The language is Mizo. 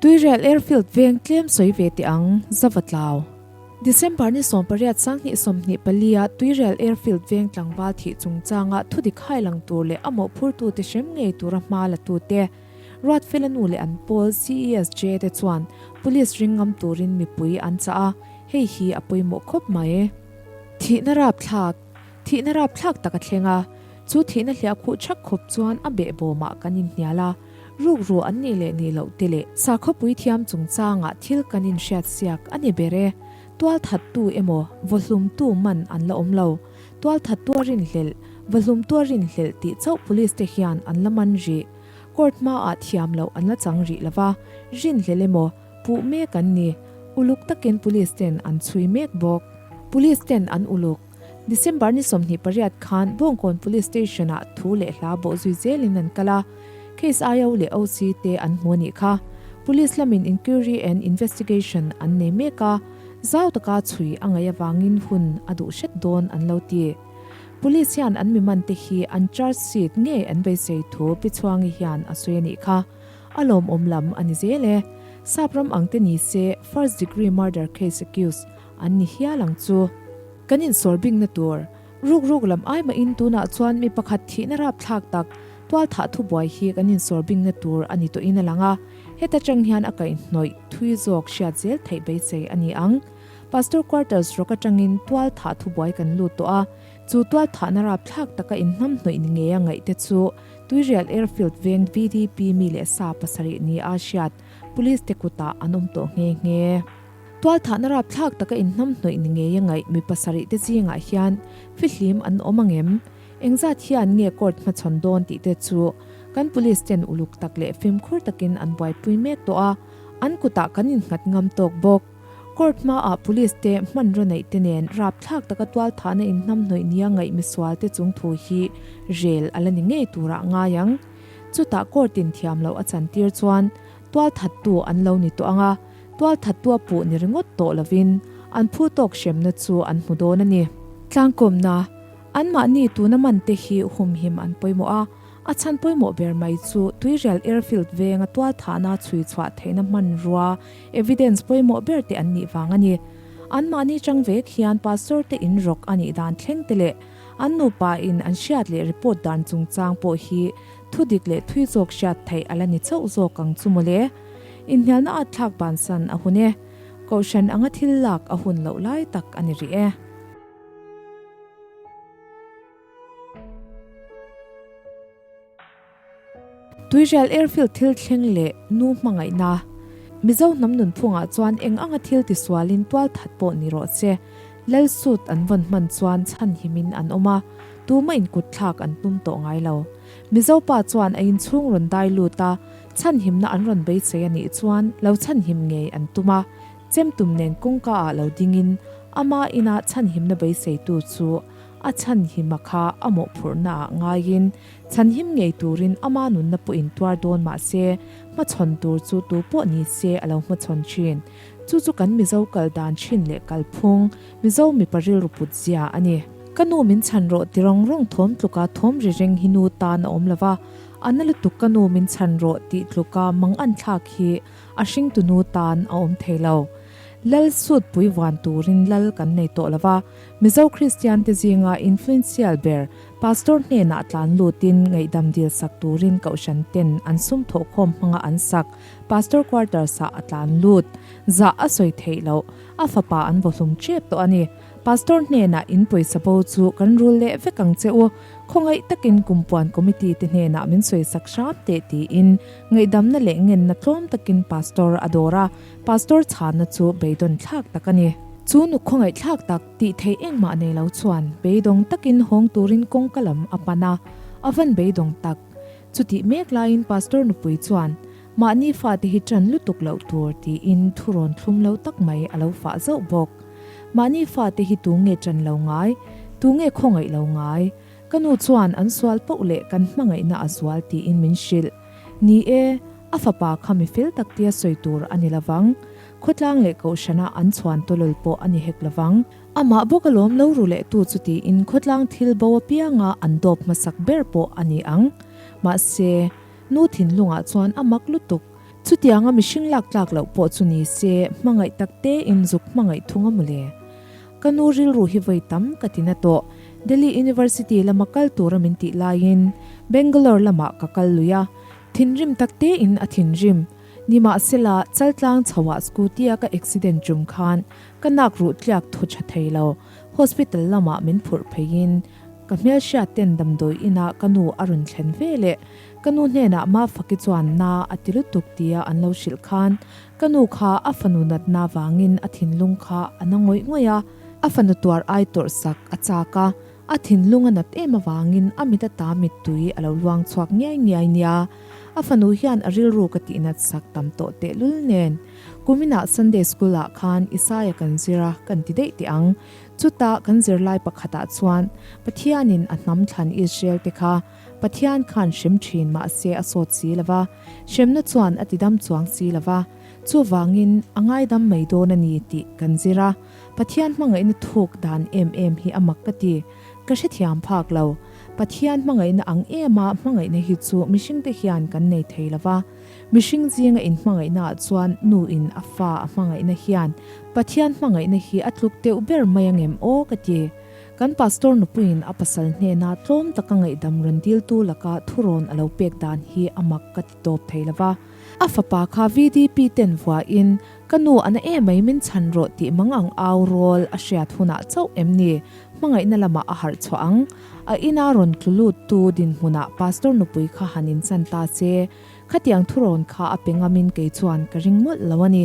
Tuirel Airfield veng tlem sawi ve teh ang, Zavatlau. December ni sawm pariat sang hnih sawmhnih pali ah Tuirel Airfield veng tlangval thih chungchang ah thudik hailang tur leh a mawhphur tu te hrem ngei tur a hma la tu te, Ruat Felanu leh an pawl, CESJ, te chuan Police ring ngam turin mipui an chah a, hei hi a pawimawh khawp mai. Thihna rapthlak. Thihna rapthlak tak a thleng a, chu thihna hliah khuh chak khawp chuan a beh bawm ah kan in hnial a, rukruah an nih leh nih loh te leh sakhaw puithiam chungchang ah thil kan in hriat siak a ni ber e, tual that tu emaw vawhlum tu man an la awm lo, tual that tua rin hlelh, vawhlum tua rin hlelh tih chauh police te hian an la man rih, court hma ah thiam loh an la chang rih lova, rin hlelh emaw, Puh mek an ni. Uluk takin Police ten an chhui mek bawk. Police ten an uluk. December ni sawmhnih pariat khan Bawngkawn Police Station ah thu leh hla bawh zui zel in an kal a, case ai au leh OC te an hmu anih kha. Police lam in inquiry and investigation an nei mek a, zau taka chhui a ngaih avang in hun a duh hret dawn an lo ti. Police hian an miman te hi an charge sheet ngei an beisei thu Pi Chhuangi hian a sawi anih kha. A lawmawm lam a ni zel e. Sap ram ang te ni se first degree murder case accused an ni hial ang chu. Kan insawr bikna tur, Ruk Ruk lam ai mahin tunah chuan mi pakhat thihna rapthlak tak tualthah thubuai hi kan insawr bikna tur a ni tawhin a lang a, heta tang hian a kaihhnawih thui zawk hriat zel theih beisei a ni ang. Pastor quarters rawk atangin tualthah thubuai kan lut tawh a, Chu tualthahna rapthlak taka inhnamhnawih ni ngei a ngaih te chu Tuirial Airfield veng VDP mi leh sa pasarih ni a hriat Police te kutah an awm tawh nghe nghe. Tualthahna rapthlak taka inhnamhnawih ni ngei a ngaih mi pasarih te zingah hian fihlim an awm ang em? Engzat hian nge Court hmachhawn dawn tih te chu kan Police ten uluk tak leh fimkhur takin an buaipui mek tawh a, an kutah kan innghat ngam tawk bawk. Court hmaah police te hmanraw neih te nen rapthlak taka tualthahna inhnam hnawih nia ngaih misual te chung thu hi rel a la ni ngei tur a ngai ang. Chutah court in thiam loh a chan tir chuan tualthat tu an lo ni tawh ang a, tualthat tua puh ni ringawt tawh lovin an phu tawk hremna chu an hmu dawn a ni. Tlangkawmna, anmahni tuna man te hi humhim an pawimawh a, a chhan pawimawh ber mai chu tuirial airfield venga tualthahna chhui chhuah theihna hmanrua Evidence pawimawh ber te an nih vang a ni. Anmahni chang vek hian Pastor te in rawk a nih dan thleng te leh an nupa in an hriat leh report dan chungchang pawh hi thu dik leh thui zawk hriat theih a la ni chauh zawk ang chu maw le. Inhnialna a thlak bansan a hun e. Kohhran anga thil lak a hun loh lai tak a ni rih e. Tuihrel airfield thil thleng leh nu hmangaihna Mizo hnam nunphungah chuan eng anga thil ti sualin tual that pawh ni rawh che, Lal suit an vawn hman chuan chhan himin an awm a, tuma inkuthlak an tum tawh ngai lo. Mizo pa chuan a inchhung rawn dai lut a, chhan himna an rawn beisei a nih chuan lo chhan him ngei an tum a, Chemtum nen kawngka ah lo dingin ama ina chhan himna beiseitu chu a chhan hima kha a mawhphurhna ah ngaiin Chhanhim ngei turin ama nunna pawh in tuar dawn mahse, hmachhawn tur chu tu pawh ni se a lo hmachhawn thin. Chu chu kan Mizo kal dan thin leh kal phung, Mizo mipa rilru put zia a ni. Ka nu min chhan rawh ti rawng rawng thawm tluka thawm ri reng hi nu tan a awm lova, a na lutuk ka nu min chhan rawh tih tluka mang an thlak hi a hring tu nu tan a awm thei lo. Lal sut pui vuan turin lal kan nei tawh lova, Mizo Kristian te zinga influencial ber Pastor hnenah tlan lutin ngaihdam dil sak turin kohhran ten an sum thawh khawm hmanga an sak. Pastor quarters ah a tlan lut. Zah a sawi theih loh. A fapa an vawhlum ṭep tawh a ni. Pastor hnenah in pawisa bo chu kan rul leh vek ang che u. Khawngaih takin kum puan committee te hnenah min sawi sak hram teh tiin ngaihdamna leh ngenna tlawm takin pastor a dawr a. Pastor chhanna chu beidawn thlak tak a ni. Chu nu khawngaihthlak tak. Tih theih engmah nei lo chuan beidawng takin hawng turin kawngka lam a pan a, a van beidawng tak. Chutih mek laiin Pastor nupui chuan, Mahni fate hi tan lutuk loh tur, tiin thu rawn thlum lo tak mai a lo fah zauh bawk. Mahni fate hi tu nge tan lo ngai, tu nge khawngaih lo ngai? Ka nu chuan an sual poh leh kan hmangaihna a zual tiin min hrilh. Ni e, a fapa kha mi fel tak tia sawi tur a ni lovang. Khawtlang leh kohhranah an chhuan tawlol pawh a ni hek lovang. Amah bawk a lawm lo ru leh tu chutiin khawtlang thil bo apianga an dawp hmasak ber pawh a ni ang. Mahse, Nu Thinlungah chuan a mak lutuk. Chutianga mihring lak tlak loh pawh chu ni se, hmangaih takte in zuk hmangaih thung a mu le. Ka nu rilru hi vawi tam ka ti na tawh. Delhi University lama kal tura min tih laiin Bangalore lamah ka kal lui a. Thinrim tak tein a thinrim. Nimahsela, Chaltlang chhoah scooty a ka accident tum khan ka nak ruh tliak thu tha thei lo. Hospital lamah min phurh pheiin ka hmelhriat ten damdawi ina ka nu a rawn thlen ve leh. Ka nu hnenah Mafaki chuan na a ti lutuk tia an lo hrilh khan Ka nu kha a fanu natna avangin a thinlung kha a na ngawih ngawih a, a fanu tuar ai tawrh sak a chak a, a thinlung a nat em avangin a mit ata mittui a lo luang chhuak ngiai ngiai nia. A fanu hian a rilru ka tih nat sak tam tawh tehlul nen. Kumina Sunday School ah khan Isaiah kan zir a kan ti daih teh ang. Chuta kan zirlai pakhatah chuan Pathianin a hnam thlan Israel te kha Pathian khan hrem thin mahse a sawt si lo va, Hremna chuan a tidam chuang si lo va, chuvangin a ngaidam mai dawn a ni tih kan zir a, Pathian hmangaihna thuk dan em em hi a mak ka ti. Ka hrethiam phak lo. Pathian hmangaihna ang ema hmangaihna hi chu mihringte hian kan nei thei lo va, mihring zinga in hmangaihnaah chuan nu in a fa a hmangaihna hian Pathian hmangaihna hi a tluk deuh ber mai angem aw ka ti. Kan Pastor nupuiin a pasal hnena tlawm taka ngaihdam rawn diltu laka thurawn a lo pek dan hi a mak ka ti tawp thei lova. A fapa kha VDP ten vuain, Ka nu a na e mai min chhan rawh tih mangang au rawl a hriat hunah chauh em ni? Hmangaihna lamah a harh chhuah ang. A ina rawn tlu lut tu dinhmunah Pastor nupui kha han inchan ta che. Khatiang thurawn kha a pe ngamin kei chuan ka ring mawlh lo a ni.